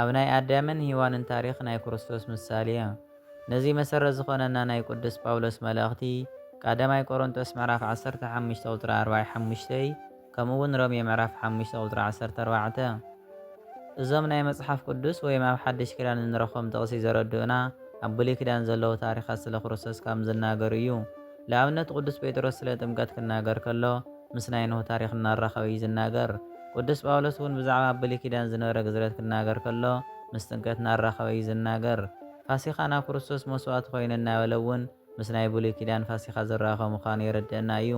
ኣብ ናይ ኣዳምን ሂዋንን ታሪኽ ናይ ክርስቶስ ምሳሌ። ነዚ መሰረት ዝኾነና ናይ ቅዱስ ጳውሎስ መልእኽቲ ቃዳማይ ቆሮንቶስ ምዕራፍ ዓሰርተ ሓሙሽተ ቁጽሪ ኣርባይ ሓሙሽተይ ከምኡውን ሮሜ ምዕራፍ ሓሙሽተ ቁጽሪ ዓሰርተ ኣርባዕተ እዞም ናይ መጽሓፍ ቅዱስ ወይም ኣብ ሓድሽ ኪዳን እንረኽቦም ጥቕሲ ዘረድኡና ኣብ ብሉይ ኪዳን ዘለዉ ታሪኻት ስለ ክርስቶስ ካም ዝናገሩ እዩ። ልኣብነት ቅዱስ ጴጥሮስ ስለ ጥምቀት ክናገር ከሎ ምስ ናይ ኖህ ታሪኽ እናራኸበ እዩ ዝናገር። ቅዱስ ጳውሎስ እውን ብዛዕባ ኣብ ብሉይ ኪዳን ዝነበረ ግዝረት ክናገር ከሎ ምስ ጥምቀት እናራኸበ እዩ ዝናገር። ፋሲካና ክርስቶስ መስዋእቲ ኾይነ እናበለ እውን ምስ ናይ ብሉይ ኪዳን ፋሲካ ዝራኸብ ምዃኑ የረድእና እዩ።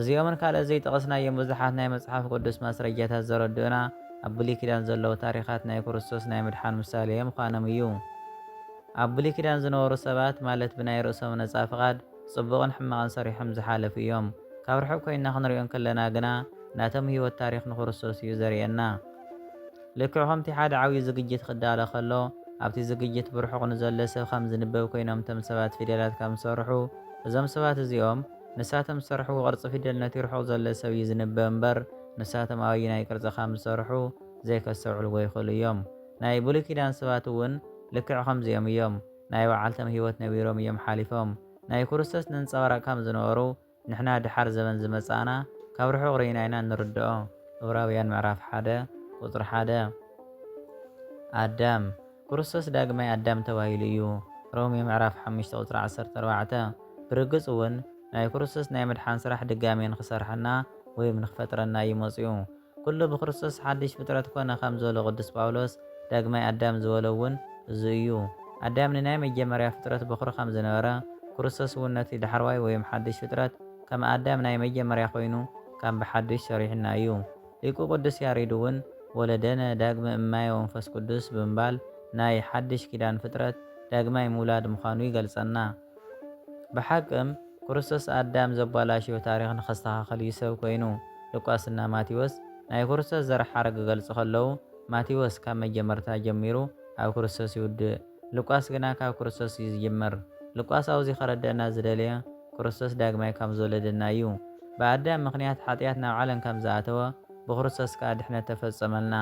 እዚኦምን ካልኦት ዘይጠቐስናዮም ብዙሓት ናይ መጽሓፍ ቅዱስ ማስረጃታት ዘረድኡና ኣብ ብሉይ ኪዳን ዘለዉ ታሪኻት ናይ ክርስቶስ ናይ ምድሓን ምሳሌ ምዃኖም እዩ። ኣብ ብሉይ ኪዳን ዝነበሩ ሰባት ማለት ብናይ ርእሶም ነጻ ፍቓድ፣ ጽቡቕን ሕማቕን ሰሪሖም ዝሓለፉ እዮም። ካብ ርሑቕ ኮይንና ክንሪኦ እንከለና ግና ናቶም ህይወት ታሪኽ ንክርስቶስ እዩ ዘርእየና። ልክዕ ከምቲ ሓደ ዓብዪ ዝግጅት ክዳሎ ከሎ ኣብቲ ዝግጅት ብርሑቕ ንዘሎ ሰብ ከም ዝንበብ ኮይኖም እቶም ሰባት ፊደላት ከም ዝሰርሑ እዞም ሰባት እዚኦም ንሳቶም ዝሰርሕዎ ቅርጺ ፊደል ነቲ ርሑቕ ዘሎ ሰብ እዩ ዝንበብ እምበር ንሳቶም ኣብ ኣየናይ ቅርጺ ከም ዝሰርሑ ዘይከስተውዕልዎ ይኽእሉ እዮም። ናይ ብሉይ ኪዳን ሰባት እውን ልክዕ ከምዚኦም እዮም። ናይ ባዓልቶም ሂወት ነቢሮም እዮም ሓሊፎም ናይ ኩርስቶስ ነንጸባራቅ ካም ዝነበሩ ንሕና ድሓር ዘበን ዝመጻእና ካብ ርሑቅ ርኢና ኢና ንርድኦ። ዕብራውያን ምዕራፍ ሓደ ቁጽሪ ሓደ ኣዳም ኩርስቶስ ዳግማይ ኣዳም ተባሂሉ እዩ። ሮሜ ምዕራፍ ሓሙሽተ ቁጽሪ ዓሰርተ ኣርባዕተ ብርግጽ ውን ናይ ኩርስቶስ ናይ ምድሓን ስራሕ ድጋሜ ንክሰርሐና ወይም ንክፈጥረና እዩ መጽኡ። ኩሉ ብክርስቶስ ሓድሽ ፍጥረት ኮነ ከም ዝበሎ ቅዱስ ጳውሎስ፣ ዳግማይ ኣዳም ዝበሎ እውን እዙይ እዩ። ኣዳም ንናይ መጀመርያ ፍጥረት በዅሪ ከም ዝነበረ፣ ክርስቶስ እውን ነቲ ዳሕረዋይ ወይም ሓድሽ ፍጥረት ከም ኣዳም ናይ መጀመርያ ኮይኑ ከም ብሓዱሽ ሰሪሑና እዩ። ሊቁ ቅዱስ ያሬድ እውን ወለደነ ዳግመ እምማየ ወመንፈስ ቅዱስ ብምባል ናይ ሓድሽ ኪዳን ፍጥረት ዳግማይ ምውላድ ምዃኑ ይገልጸና። ብሓቅም ክርስቶስ ኣዳም ዘባላሽዮ ታሪኽ ንኸስተኻኸል እዩ ሰብ ኮይኑ። ሉቃስ እና ማቴዎስ ናይ ክርስቶስ ዘር ሓረግ ክገልጹ ከለዉ ማቴዎስ ካብ መጀመርታ ጀሚሩ ኣብ ክርስቶስ ይውድእ ሉቃስ ግና ካብ ክርስቶስ እዩ ዝጅምር። ሉቃስ ኣውዚ ከረደእና ዝደለዮ ክርስቶስ ዳግማይ ካም ዝወለደና እዩ። ብኣዳም ምኽንያት ሓጥያት ናብ ዓለም ካም ዝኣተወ ብክርስቶስ ከኣ ድሕነት ተፈጸመልና።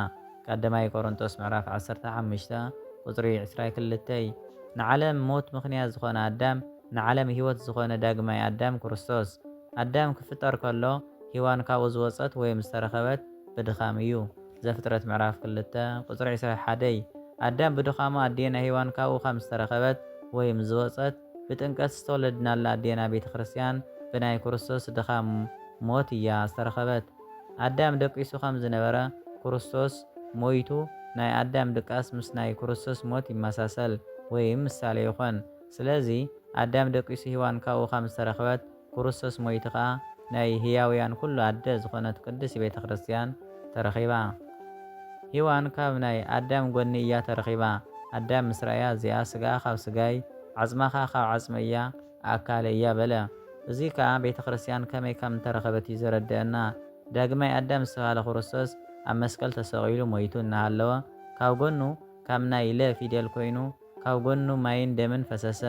ቀዳማይ ቆሮንቶስ ምዕራፍ ዓሰርተ ሓሙሽተ ቁጽሪ ዕስራ ክልተ ንዓለም ሞት ምኽንያት ዝኾነ ኣዳም ንዓለም ሕይወት ዝኾነ ዳግማይ ኣዳም ክርስቶስ ኣዳም ክፍጠር ከሎ ሂዋን ካብኡ ዝወጸት ወይም ዝተረኸበት ብድኻም እዩ ዘፍጥረት ምዕራፍ ክልተ ቁጽሪ ዕስራ ሓደ ኣዳም ብድኻሙ ኣዴና ሂዋን ካብኡ ከም ዝተረኸበት ወይም ዝወጸት ብጥምቀት ዝተወለድናላ ኣዴና ቤተክርስቲያን ብናይ ክርስቶስ ድኻም ሞት እያ ዝተረኸበት። ኣዳም ደቂሱ ከም ዝነበረ ክርስቶስ ሞይቱ ናይ ኣዳም ድቃስ ምስ ናይ ክርስቶስ ሞት ይመሳሰል ወይም ምሳሌ ይኾን። ስለዚ ኣዳም ደቂሱ ሂዋን ካብኡ ከም ዝተረኽበት ክርስቶስ ሞይቱ ከኣ ናይ ህያውያን ኩሉ ኣደ ዝኾነት ቅድስቲ ቤተ ክርስቲያን ተረኺባ። ሂዋን ካብ ናይ ኣዳም ጎኒ እያ ተረኺባ ኣዳም ምስ ረኣያ እዚኣ ስጋኣ ካብ ስጋይ ዓጽማ ከኣ ካብ ዓጽመይ እያ ኣካል እያ በለ። እዙይ ከዓ ቤተ ክርስቲያን ከመይ ከም እተረኸበት እዩ ዘረድኣና። ዳግማይ ኣዳም ዝተብሃለ ክርስቶስ ኣብ መስቀል ተሰቒሉ ሞይቱ እናሃለወ ካብ ጎኑ ካብ ናይ ለ ፊደል ኮይኑ ካብ ጎኑ ማይን ደምን ፈሰሰ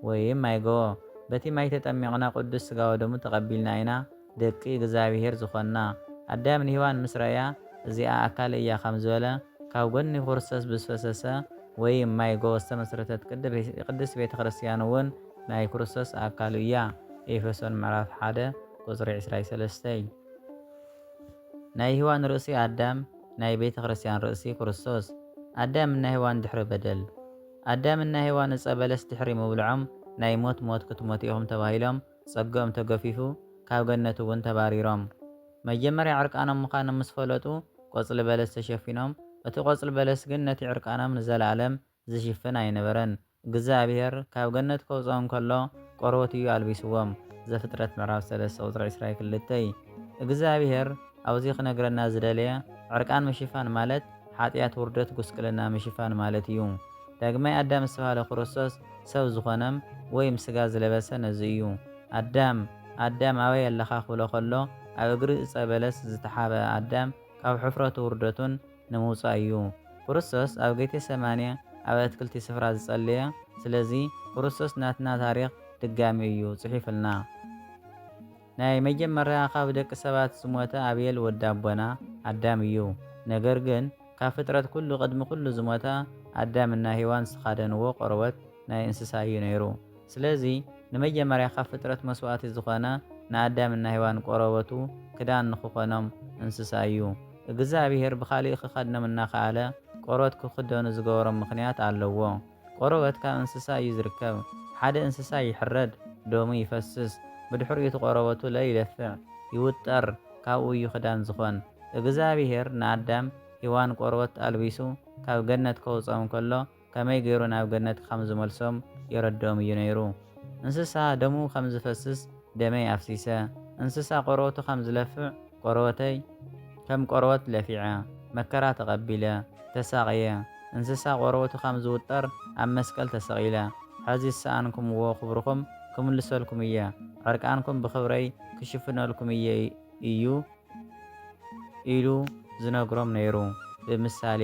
ወይም ማይ ገቦ። በቲ ማይ ተጠሚቕና ቅዱስ ሥጋ ወደሙ ተቐቢልና ኢና። ደቂ እግዝኣብሄር ዝኾንና ኣዳም ንሂዋን ምስ ረእያ እዚኣ ኣካለይ እያ ከም ዝበለ ካብ ጎኒ ኩርሰስ ብዝፈሰሰ ወይም ማይ ጎቦ ዝተመስረተት ቅድስት ቤተ ክርስትያን እውን ናይ ኩርሰስ ኣካሉ እያ ኤፌሶን ምዕራፍ ሓደ ቁጽሪ ዕስራይ ሰለስተይ ናይ ሂዋን ርእሲ ኣዳም ናይ ቤተ ክርስትያን ርእሲ ኩርሰስ ኣዳም እና ሂዋን ድሕሪ በደል ኣዳም እና ሂዋን እጸ በለስ ድሕሪ ምብልዖም ናይ ሞት ሞት ክትሞቱ ኢኹም ተባሂሎም ጸግኦም ተገፊፉ ካብ ገነት እውን ተባሪሮም። መጀመርያ ዕርቃኖም ምዃኖም ምስ ፈለጡ ቆጽሊ በለስ ተሸፊኖም፣ እቲ ቆጽሊ በለስ ግን ነቲ ዕርቃኖም ንዘለኣለም ዝሽፍን ኣይነበረን። እግዝኣብሄር ካብ ገነት ከውጽኦም ከሎ ቆርበቱ እዩ ኣልቢስዎም፣ ዘፍጥረት ምዕራፍ ሰለስተ ቁጽሪ ዕስራ ክልተ። እግዝኣብሄር። ኣብዚ ክነግረና ዝደለየ ዕርቃን ምሽፋን ማለት ሓጥያት ውርደት ጉስቅልና ምሽፋን ማለት እዩ። ዳግማይ ኣዳም ዝተባህለ ክርስቶስ ሰብ ዝኾነም ወይም ስጋ ዝለበሰ ነዚ እዩ። ኣዳም ኣዳም ኣበይ ኣለኻ ክብሎ ከሎ ኣብ እግሪ እፀ በለስ ዝተሓብኣ ኣዳም ካብ ሕፍረቱ ውርደቱን ንምውፃእ እዩ። ክርስቶስ ኣብ ጌቴሰማኔ ኣብ ኣትክልቲ ስፍራ ዝፀለየ ስለዚ ክርስቶስ ናትና ታሪኽ ድጋሚ እዩ ፅሒፍልና። ናይ መጀመርያ ካብ ደቂ ሰባት ዝሞተ ኣቤል ወዲ ኣቦና ኣዳም እዩ። ነገር ግን ካብ ፍጥረት ኩሉ ቅድሚ ኩሉ ዝሞተ ኣዳም እና ሄዋን ዝትካደንዎ ቆርበት ናይ እንስሳ እዩ ነይሩ። ስለዚ ንመጀመርያ ካብ ፍጥረት መስዋእቲ ዝኮነ ንኣዳም እና ሄዋን ቆረበቱ ክዳን ንክኮኖም እንስሳ እዩ። እግዝኣብሄር ብካሊእ ክከድኖም እናከኣለ ቆርበት ክክደኑ ዝገበሮም ምክንያት ኣለዎ። ቆርበት ካብ እንስሳ እዩ ዝርከብ። ሓደ እንስሳ ይሕረድ፣ ደሙ ይፈስስ፣ ብድሕሪኡ እቲ ቆርበቱ ለ ይደፍዕ፣ ይውጠር፣ ካብኡ እዩ ክዳን ዝኾን። እግዝኣብሄር ንኣዳም፣ ሂዋን ቆርበት ኣልቢሱ ካብ ገነት ከውጽኦም ከሎ ከመይ ገይሩ ናብ ገነት ካም ዝመልሶም የረድኦም እዩ ነይሩ። እንስሳ ደሙ ከም ዝፈስስ ደመይ ኣፍሲሰ፣ እንስሳ ቆርበቱ ከም ዝለፍዕ፣ ቆርበተይ ከም ቆርበት ለፊዐ፣ መከራ ተቐቢለ፣ ተሳቕየ፣ እንስሳ ቆርበቱ ከም ዝውጠር ኣብ መስቀል ተሰቒለ፣ ሕዚ ዝሰኣንኩምዎ ክብርኹም ክምልሰልኩም እየ፣ ዕርቃንኩም ብኽብረይ ክሽፍነልኩም እየ እዩ ኢሉ ዝነግሮም ነይሩ፣ ብምሳሌ።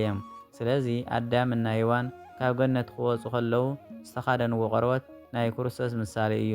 ስለዚ ኣዳም እና ሄዋን ካብ ገነት ክወጹ ከለዉ ዝተኻደንዎ ቆርበት ናይ ክርስቶስ ምሳሌ እዩ።